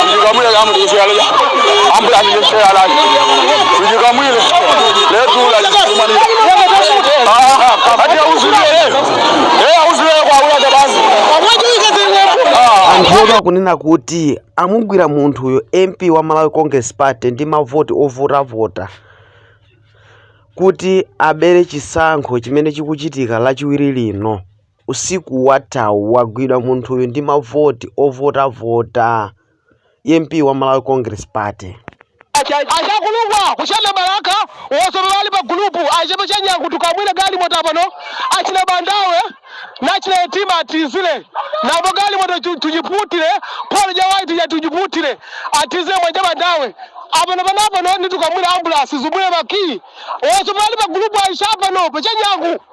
Tujikamwile kama tukusialia. Ambula ni mshe halali. Tujikamwile. Leo tula tukumani. Ah, kabati auzulie. Eh, auzulie kwa ula jabazi. anthu omwe akunena kuti amugwira munthuyo mp wa malawi congress party ndi mavoti ovotavota kuti abere chisankho chimene chikuchitika lachiwiri lino Usiku wathawu wagwidwa munthuyu ndi mavoti ovotavota, MP wa Malawi Congress Party. Achakulungwa ku Chame Balaka was omwe ali pa gulupu achepe cha Nyangutu Kamwine galimoto apano achina Bandawe nachina Yetima atizile nabo galimoto chu tujiputile pole ja white ja tujiputile atizile mwaja Bandawe apano panapano nitu Kamwine ambulasi zubule ba key was omwe ali pa gulupu aisha apano pa cha Nyangu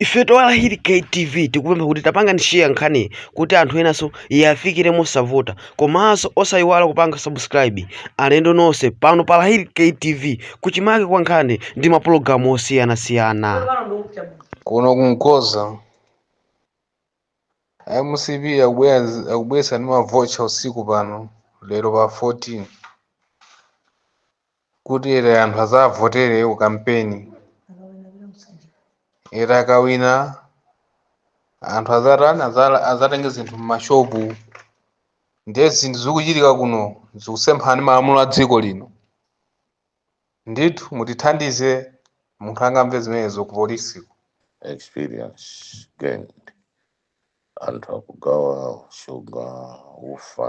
ifetu a lahili ktv tikupempha kuti tapangani share nkhani kuti anthu enanso iyafikire mosavuta komanso osayiwala kupanga subscribe alendo nonse pano pa lahili ktv kuchimake kwa nkhani ndi mapulogalamu osiyanasiyana kuno kumkoza mcp akubweretsa ndi mavocha usiku pano lero pa 14 kuti ere anthu azavotere ku kampeni ere akawina anthu azatani azatenge zinthu m'mashopu ndiye zinthu zikuchitika kuno zikusemphana ndi malamulo a dziko lino ndithu mutithandize munthu angamve zimenezo ku polisiko experience gained anthu akugawa shuga ufa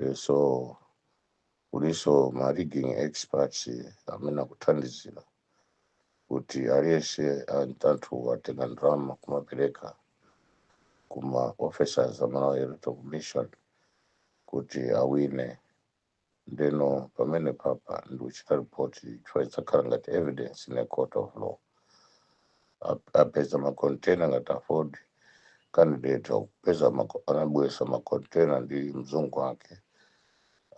Eh, so kulinso ma rigging experts amene akuthandizira kuti aliyense anthu atenga ndalama kumapereka kuma officers a Malawi Electoral Commission kuti awine ndeno pamenepapa ndikuchita report chifukwa idzakhala ngati evidence in a court of law apeza makontena ngati aford candidate akupeza anabweresa makontena ndi mzungu wake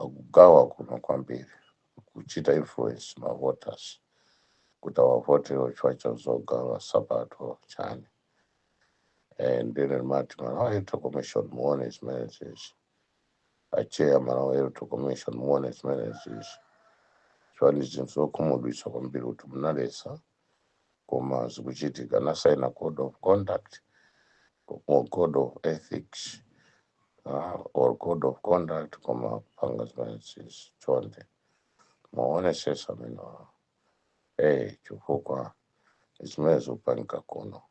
akugawa kuno kwambiri kuchita influence mavoters kuti awavote chifukwa cha zogawa sapato chani and then mati malawi electoral commission muone zimenezizi a chair malawi electoral commission muone zimenezizi chifukwa ndi zinthu zokhumudwitsa kwambiri kuti munaletsa koma zikuchitika anasaina code of conduct or code of ethics ah, or code of conduct koma kupanga zimenezizi chonde muonesese amenewa eh chifukwa zimene zikupangika kuno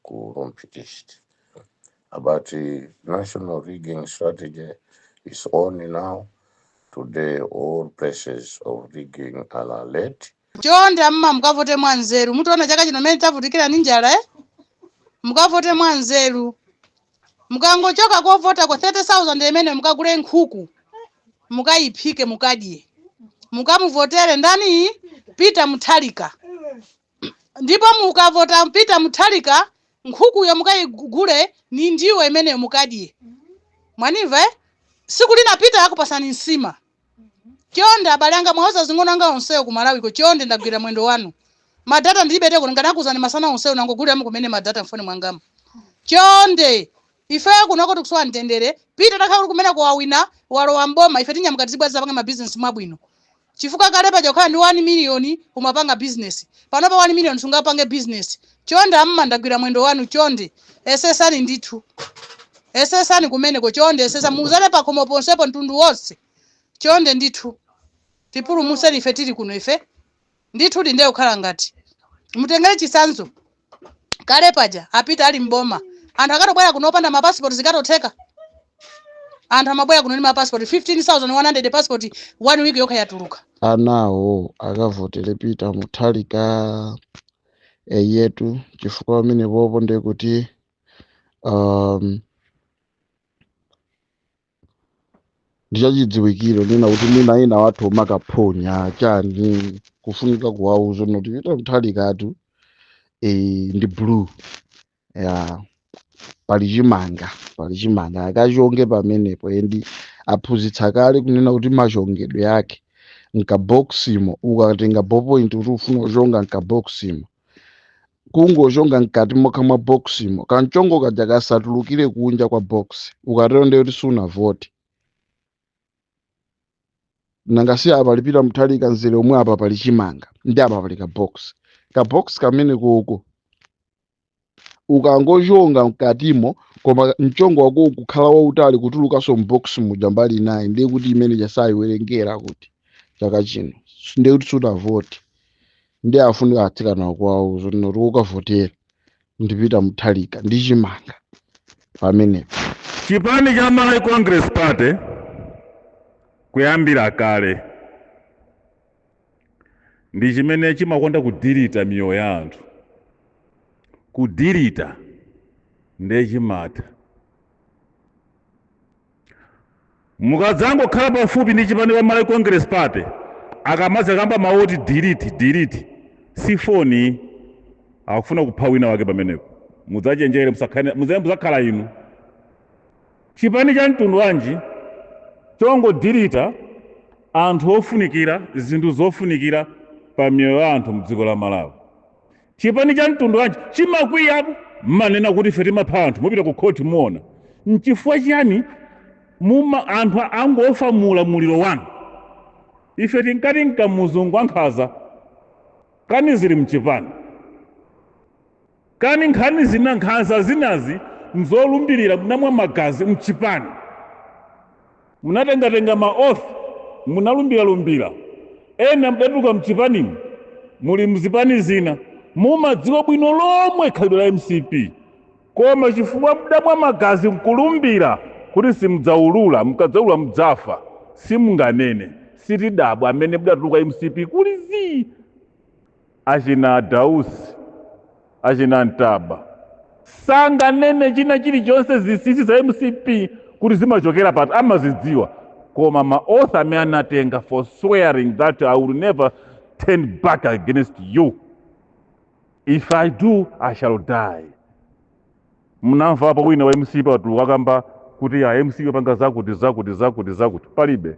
ku rumphi east but the national rigging strategy is on now today all places of rigging are alert chonde amma mukavote mwa nzeru mutiona chaka chino mmene tavutikira ndi njala eh? mukavote mwa nzeru Mukangochoka kovotako 30,000 imeneyo mukagule nkhuku mukayiphike mukadye mukamuvotere ndani Peter Mutharika ndipo mukavota Peter Mutharika nkhukuyo mukayigule ni ndiwo imeneyo mukadye mwanimva eh? siku lina Peter akupasani nsima chonde abale anga muwauze azing'ono anga onsewo ku malawiko chonde ndagwira mwendo wanu madata ndilibe to kuti ndikanakuuzani masana onsewo nangogulira m'kumene madata mfoni mwangamo chonde ifeyo kunoko tikusowa mtendere pita atakhala kuti kumene wawina walowa m'boma ife tinyamuka tizibwera tizapanga mabizinesi mwabwino chifukwa kale paja kukhala ndi 1 miliyoni umapanga bizinesi panopa 1 miliyoni sungapange bizinesi chonde amama ndagwira mwendo wanu chonde esesani ndithu esesani kumeneko chonde esesani muuzane pakhomo ponsepo mtundu wonse chonde ndithu tipulumutseni ife tili kuno ife ndithu ndiye kukhala ngati mutengere chisanzo kale paja apita ali m'boma anthu akatobwera kuno opanda mapasipoti zikatotheka anthu amabwera kuno ndi mapasipoti 15100 pasipoti one week yokha yatuluka anawo akavotere pita muthalika eyetu chifukwa pamenepopo ndiye kuti um, ndichachidziwikire nena kuti mwina ina wathu amakaphonya chani kufunika kuwauza zoti pita mthalikatu eh, ndi blue ya pali chimanga pali chimanga akachonge pamenepo endi aphunzitsa kale kunena kuti machongedwe ake mkabokisimo ukatenga ballpoint kuti ukufuna kuchonga mkabokisimo kungochonga mkati mokha mwa bokisimo kamchongo kaja kasatulukire kunja kwa box ukatero ndiye kuti sunavote nanga si apa pali pita mthalika mzere womwe apa pali chimanga ndi apa pali kabox kabox kamenekoko ukangochonga mkatimo koma mchongo wako kukhala wautali kutulukanso mbox muja mbali inayi ndiye kuti imeneyo sayiwerengera kuti chaka chino ndiye kuti sunavote ndiye afunika atsikanawo kuwauza kunena kuti wokavotera ndi pita muthalika ndi chimanga pamenepo chipani cha malawi congress party kuyambira kale ndi chimene chimakonda kudirita miyoyo ya anthu kudirita ndiye chimatha mukadzangokhala pafupi ndi chipani cha malawi congress party akamadzakamba mawu oti diriti diriti si foni akufuna kupha wina wake pamenepo mudzachenjere musakhane- muze- mudzakhala inu Chipani cha mtundu wanji chongodilita anthu ofunikira zinthu zofunikira pa miyoyo ya anthu mdziko la Malawi? Chipani cha mtundu wanji chimakwiyapo mmanena kuti ife timapha anthu mupita ku khoti muona. Nchifukwa chiyani anthu angofa mu ulamuliro wanu? Ife tinkati ndi Kamuzu wankhanza kani zili mchipani. Kani nkhani zina nkhanza zinazi mzolumbilira munamwa magazi mchipani munatengatenga ma oath munalumbiralumbira ena mdatuluka mchipanimu muli mzipani zina mumadziwa bwino lomwe khalidwe la mcp koma chifukwa mdamwa magazi nkulumbira kuti simudzaulula mukadzaulula mudzafa simunganene sitidabwa amene mdatuluka mcp kuli zii. achina Dausi, achina Ntaba sanganene china chilichonse zinsinsi za mcp kuti zimachokera pati amazidziwa koma ma oath amene anatenga for swearing that i will never turn back against you if i do i shall die mnamvapo wina wa mcp atatuluka akamba kuti a mcp amapanga zakuti zakuti zakuti zakuti palibe